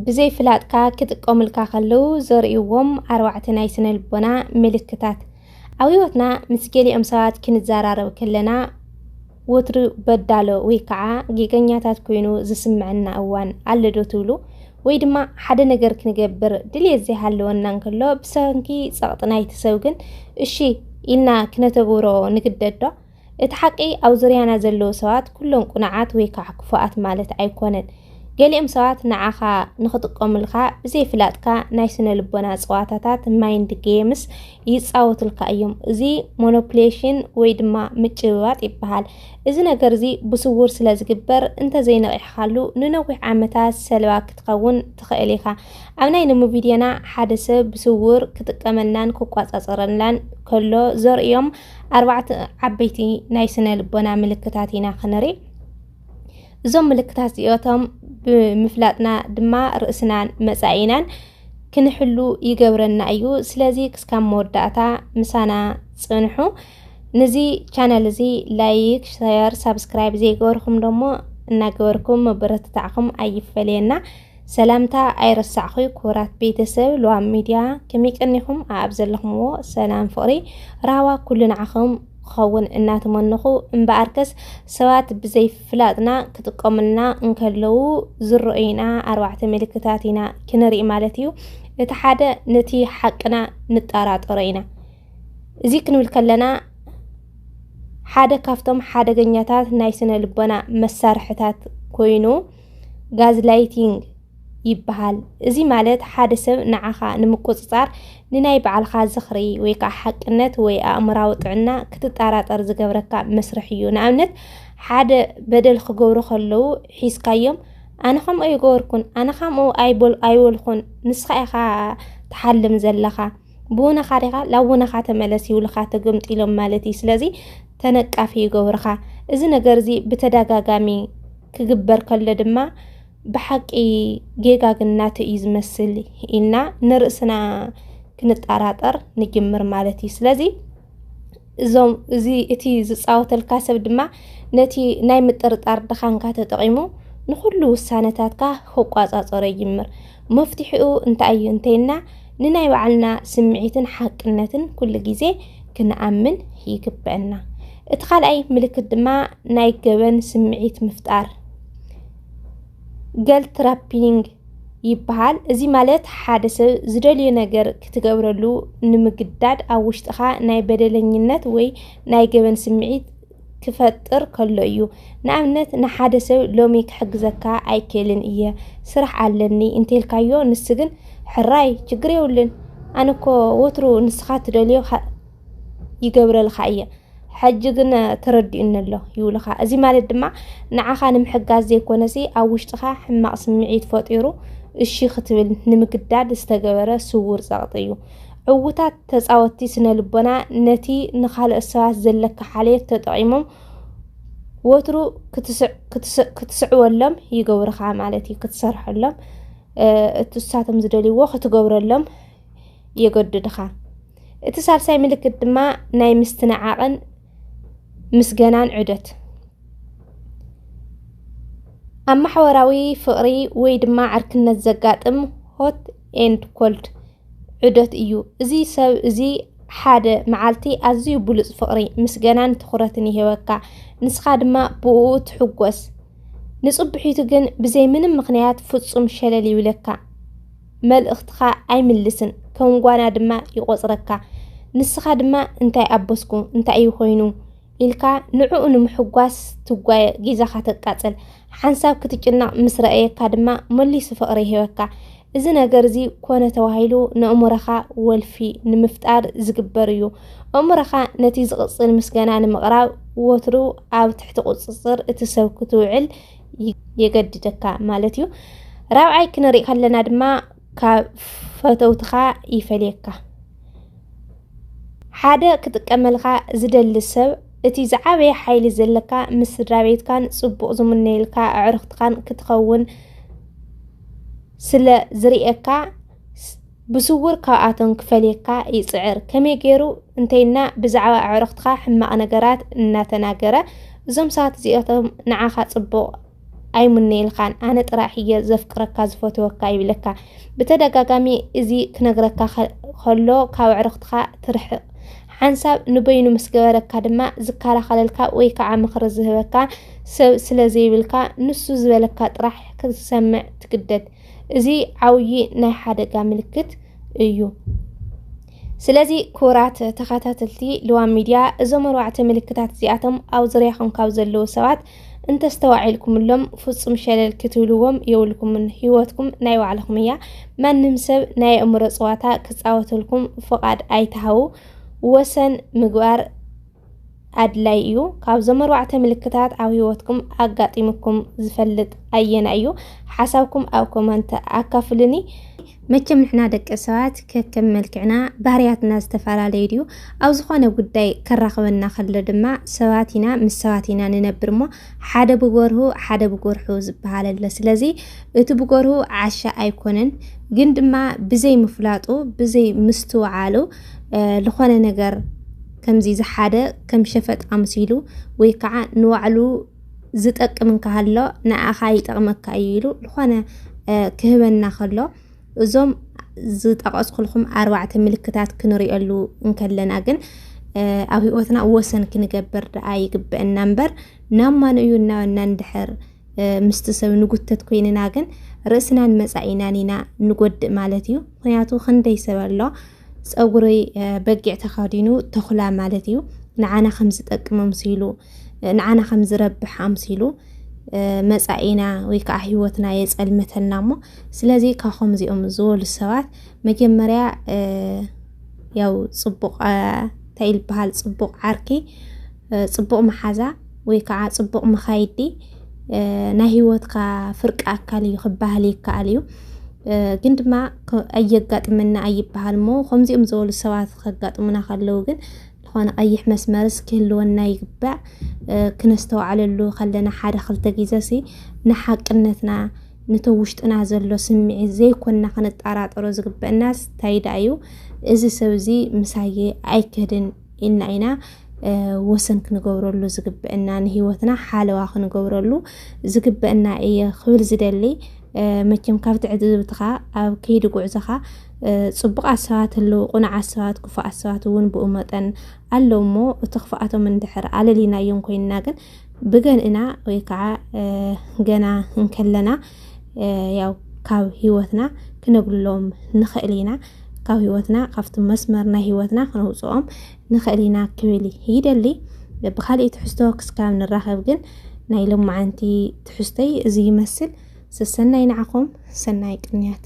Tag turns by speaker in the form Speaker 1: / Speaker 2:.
Speaker 1: ብዘይ ፍላጥካ ክጥቀሙልካ ከለዉ ዘርእይዎም ኣርባዕተ ናይ ስነ ልቦና ምልክታት። ኣብ ህይወትና ምስ ገሊኦም ሰባት ክንዘራረብ ከለና ወትሩ በዳሎ ወይ ከዓ ጌገኛታት ኮይኑ ዝስምዐና እዋን ኣሎ ዶ ትብሉ? ወይ ድማ ሓደ ነገር ክንገብር ድልየት ዘይሃለወና እንከሎ ብሰንኪ ጸቕጢ ናይቲ ሰብ ግን እሺ ኢልና ክነተግብሮ ንግደድ ዶ? እቲ ሓቂ ኣብ ዙርያና ዘለዉ ሰባት ኩሎም ቁኑዓት ወይ ከዓ ክፉኣት ማለት ኣይኮነን። ገሊኦም ሰባት ንዓኻ ንኽጥቀሙልካ ብዘይፍላጥካ ናይ ስነ ልቦና ፀዋታታት ማይንድ ጌምስ ይፃወቱልካ እዮም። እዚ ሞኖፕሌሽን ወይ ድማ ምጭብባጥ ይበሃል። እዚ ነገር እዚ ብስውር ስለ ዝግበር እንተዘይነቒሕካሉ ንነዊሕ ዓመታት ሰለባ ክትኸውን ትኽእል ኢኻ። ኣብ ናይ ሎሚ ቪድዮና ሓደ ሰብ ብስውር ክጥቀመልናን ክቆፃፀረልናን ከሎ ዘርእዮም ኣርባዕተ ዓበይቲ ናይ ስነ ልቦና ምልክታት ኢና ክንርኢ እዞም ምልክታት እዚኦቶም ብምፍላጥና ድማ ርእስናን መጻኢናን ክንሕሉ ይገብረና እዩ። ስለዚ ክስካብ መወዳእታ ምሳና ጽንሑ። ነዚ ቻናል እዚ ላይክ፣ ሸር፣ ሳብስክራይብ ዘይገበርኩም ደሞ እናገበርኩም መበረትታዕኩም ኣይፈለየና። ሰላምታ ኣይረሳዕኹይ ክቡራት ቤተሰብ ሉዋም ሚድያ ከመይ ቀኒኹም ኣኣብ ዘለኹምዎ ሰላም ፍቕሪ ራህዋ ኩሉ ንዓኹም ክኸውን እናተመነኹ እምበኣርከስ ሰባት ብዘይፍላጥና ክጥቀሙልና እንከለዉ ዝረኦይና ኣርባዕተ ምልክታት ኢና ክንርኢ ማለት እዩ እቲ ሓደ ነቲ ሓቅና ንጠራጠሮ ኢና እዚ ክንብል ከለና ሓደ ካብቶም ሓደገኛታት ናይ ስነ ልቦና መሳርሕታት ኮይኑ ጋዝላይቲንግ ይበሃል። እዚ ማለት ሓደ ሰብ ንዓኻ ንምቁጽጻር ንናይ ባዕልኻ ዝኽሪ ወይ ከዓ ሓቅነት ወይ ኣእምራዊ ጥዕና ክትጠራጠር ዝገብረካ መስርሕ እዩ። ንኣብነት ሓደ በደል ክገብሩ ከለዉ ሒዝካዮም ኣነ ከምኡ ኣይገበርኩን ኣነ ከምኡ ኣይበልኩን ንስኻ ኢኻ ትሓልም ዘለኻ ብወነኻ ዲኻ ላብ ወነኻ ተመለስ ይብሉኻ ተገምጢሎም ማለት እዩ ስለዚ ተነቃፊ ይገብሩኻ እዚ ነገር እዚ ብተደጋጋሚ ክግበር ከሎ ድማ ብሓቂ ጌጋ ግን ናቱ እዩ ዝመስል ኢልና ንርእስና ክንጠራጠር ንጅምር ማለት እዩ ስለዚ እዞም እዚ እቲ ዝፃወተልካ ሰብ ድማ ነቲ ናይ ምጥርጣር ድኻንካ ተጠቒሙ ንኹሉ ውሳነታትካ ክቋፃፀሮ ይጅምር። መፍትሒኡ እንታይ እዩ እንተይና ንናይ ባዕልና ስምዒትን ሓቅነትን ኩሉ ግዜ ክንኣምን ይግበአና። እቲ ካልኣይ ምልክት ድማ ናይ ገበን ስምዒት ምፍጣር ገልትራፒንግ ይበሃል። እዚ ማለት ሓደ ሰብ ዝደልዮ ነገር ክትገብረሉ ንምግዳድ ኣብ ውሽጥኻ ናይ በደለኝነት ወይ ናይ ገበን ስምዒት ክፈጥር ከሎ እዩ። ንኣብነት ንሓደ ሰብ ሎሚ ክሕግዘካ ኣይክእልን እየ ስራሕ ኣለኒ እንተልካዮ ንሱ ግን ሕራይ ችግር የብሉን ኣነ እኮ ወትሩ ንስኻ ትደልዮ ይገብረልካ እየ ሕጂ ግን ተረዲኡኒ ኣሎ ይብሉኻ። እዚ ማለት ድማ ንዓኻ ንምሕጋዝ ዘይኮነሲ ኣብ ውሽጥኻ ሕማቕ ስምዒት ፈጢሩ እሺ ክትብል ንምግዳድ ዝተገበረ ስውር ጸቕጢ እዩ። ዕውታት ተጻወትቲ ስነ ልቦና ነቲ ንኻልኦት ሰባት ዘለካ ሓልዮት ተጠቒሞም ወትሩ ክትስዕወሎም ይገብርኻ ማለት እዩ። ክትሰርሐሎም እትሳቶም ዝደልይዎ ክትገብረሎም የገድድኻ። እቲ ሳልሳይ ምልክት ድማ ናይ ምስትንዓቕን ምስገናን ዑደት ኣብ ማሕበራዊ ፍቕሪ ወይ ድማ ዕርክነት ዘጋጥም ሆት ኤንድ ኮልድ ዑደት እዩ። እዚ ሰብ እዚ ሓደ መዓልቲ ኣዝዩ ብሉፅ ፍቕሪ፣ ምስገናን ትኹረትን ይህበካ፣ ንስኻ ድማ ብኡ ትሕጎስ። ንፅብሒቱ ግን ብዘይ ምንም ምክንያት ፍፁም ሸለል ይብለካ። መልእኽትኻ ኣይምልስን፣ ከም ጓና ድማ ይቖጽረካ። ንስኻ ድማ እንታይ ኣበስኩ፣ እንታይ እዩ ኮይኑ ኢልካ ንዕኡ ንምሕጓስ ትጓየ፣ ጊዛኻ ተቃጽል። ሓንሳብ ክትጭነቕ ምስ ረኣየካ ድማ መሊሱ ፍቕሪ ይህበካ። እዚ ነገር እዚ ኮነ ተባሂሉ ንእእምሮኻ ወልፊ ንምፍጣር ዝግበር እዩ። እእምሮኻ ነቲ ዝቕጽል ምስገና ንምቕራብ ወትሩ ኣብ ትሕቲ ቁጽጽር እቲ ሰብ ክትውዕል የገድደካ ማለት እዩ። ራብዓይ ክንርኢ ከለና ድማ ካብ ፈተውትኻ ይፈልየካ። ሓደ ክጥቀመልካ ዝደሊ ሰብ እቲ ዝዓበየ ሓይሊ ዘለካ ምስ ስድራ ቤትካን ፅቡቕ ዝምነየልካ ኣዕርኽትካን ክትኸውን ስለ ዝርእየካ ብስውር ካብኣቶም ክፈልየካ ይጽዕር። ከመይ ገይሩ እንተይልና ብዛዕባ ኣዕርኽትኻ ሕማቕ ነገራት እናተናገረ እዞም ሰባት እዚኦቶም ንዓኻ ጽቡቕ ኣይሙነይልካን ኣነ ጥራሕ እየ ዘፍቅረካ ዝፈትወካ ይብለካ። ብተደጋጋሚ እዚ ክነግረካ ከሎ ካብ ኣዕርኽትኻ ትርሕቕ ሓንሳብ ንበይኑ ምስ ገበረካ ድማ ዝከላኸለልካ ወይ ከዓ ምኽሪ ዝህበካ ሰብ ስለ ዘይብልካ ንሱ ዝበለካ ጥራሕ ክትሰምዕ ትግደድ። እዚ ዓብዪ ናይ ሓደጋ ምልክት እዩ። ስለዚ ክቡራት ተኸታተልቲ ልዋም ሚድያ እዞም ኣርባዕተ ምልክታት እዚኣቶም ኣብ ዙርያኹም ካብ ዘለዉ ሰባት እንተስተዋዒልኩምሎም ፍፁም ሸለል ክትብልዎም የብልኩምን። ህይወትኩም ናይ ባዕልኹም እያ። ማንም ሰብ ናይ ኣእምሮ ፀዋታ ክፃወተልኩም ፍቓድ ኣይትሃቡ። ወሰን ምግባር ኣድላዪ እዩ። ካብዞም ኣርባዕተ ምልክታት ኣብ ህይወትኩም ኣጋጢሙኩም ዝፈልጥ ኣየናይ እዩ? ሓሳብኩም ኣብ ኮመንት ኣካፍሉኒ። መቸም ንሕና ደቂ ሰባት ከከም መልክዕና ባህርያትና ዝተፈላለዩ ድዩ ኣብ ዝኾነ ጉዳይ ከራኽበና ከሎ ድማ ሰባት ኢና ምስ ሰባት ኢና ንነብር እሞ ሓደ ብጎርሁ ሓደ ብጎርሑ ዝበሃል ኣሎ ስለዚ እቲ ብጎርሁ ዓሻ ኣይኮነን ግን ድማ ብዘይ ምፍላጡ ብዘይ ምስትውዓሉ ዝኾነ ነገር ከምዚ ዝሓደ ከም ሸፈጥ ኣምሲሉ ወይ ከዓ ንባዕሉ ዝጠቅም እንከሃሎ ንኣኻ ይጠቕመካ እዩ ኢሉ ዝኾነ ክህበና ከሎ እዞም ዝጠቐስኩልኩም ኣርባዕተ ምልክታት ክንሪኦሉ እንከለና ግን ኣብ ህይወትና ወሰን ክንገብር ደኣ ይግበአና እምበር ናብ ማን እዩ እናበና እንድሕር ምስቲ ሰብ ንጉተት ኮይንና ግን ርእስናን መፃኢናን ኢና ንጎድእ ማለት እዩ። ምክንያቱ ክንደይ ሰብ ኣሎ ፀጉሪ በጊዕ ተኸዲኑ ተኹላ ማለት እዩ ንዓና ከም ዝጠቅም ኣምሲሉ ንዓና ከም ዝረብሕ ኣምሲሉ መፃኢና ወይ ከዓ ህይወትና የፀልመተልና እሞ ስለዚ ካብ ከምዚኦም ዝበሉ ሰባት መጀመርያ ያው ፅቡቕ እንታይ ይበሃል ፅቡቕ ዓርኪ ፅቡቕ መሓዛ ወይ ከዓ ፅቡቕ መኻይዲ ናይ ህይወትካ ፍርቂ ኣካል እዩ ክበሃል ይከኣል እዩ ግን ድማ ኣየጋጥመና ኣይበሃል እሞ ከምዚኦም ዝበሉ ሰባት ከጋጥሙና ከለዉ ግን ዝኾነ ቀይሕ መስመርስ ክህልወና ይግባእ ክነስተውዓለሉ ከለና ሓደ ክልተ ግዘ ሲ ንሓቅነትና ነቶ ውሽጥና ዘሎ ስምዒት ዘይኮንና ክንጠራጠሮ ዝግበአናስ እንታይ ደኣ እዩ እዚ ሰብ እዚ ምሳየ ኣይከድን ኢና ኢና ወሰን ክንገብረሉ ዝግበአና ንህይወትና ሓለዋ ክንገብረሉ ዝግበአና እየ ክብል ዝደሊ መቸም ካብ ትዕዝብትኻ ኣብ ከይዲ ጉዕዞኻ ፅቡቃት ሰባት ኣለዉ፣ ቁኑዓት ሰባት፣ ክፉኣት ሰባት እውን ብኡ መጠን ኣለዉ እሞ እቲ ክፍኣቶም እንድሕር ኣለሊናዮም ኮይንና ግን ብገን ኢና ወይ ከዓ ገና እንከለና ያው ካብ ህይወትና ክነግልሎም ንኽእል ኢና ካብ ህይወትና ካብቲ መስመር ናይ ህይወትና ክነውፅኦም ንኽእል ኢና ክብል ይደሊ ብካሊእ ትሕዝቶ ክስካብ ንራኸብ ግን ናይ ሎማዓንቲ ትሕዝቶይ እዚ ይመስል ሰሰናይ ንዓኹም ሰናይ ቅንያት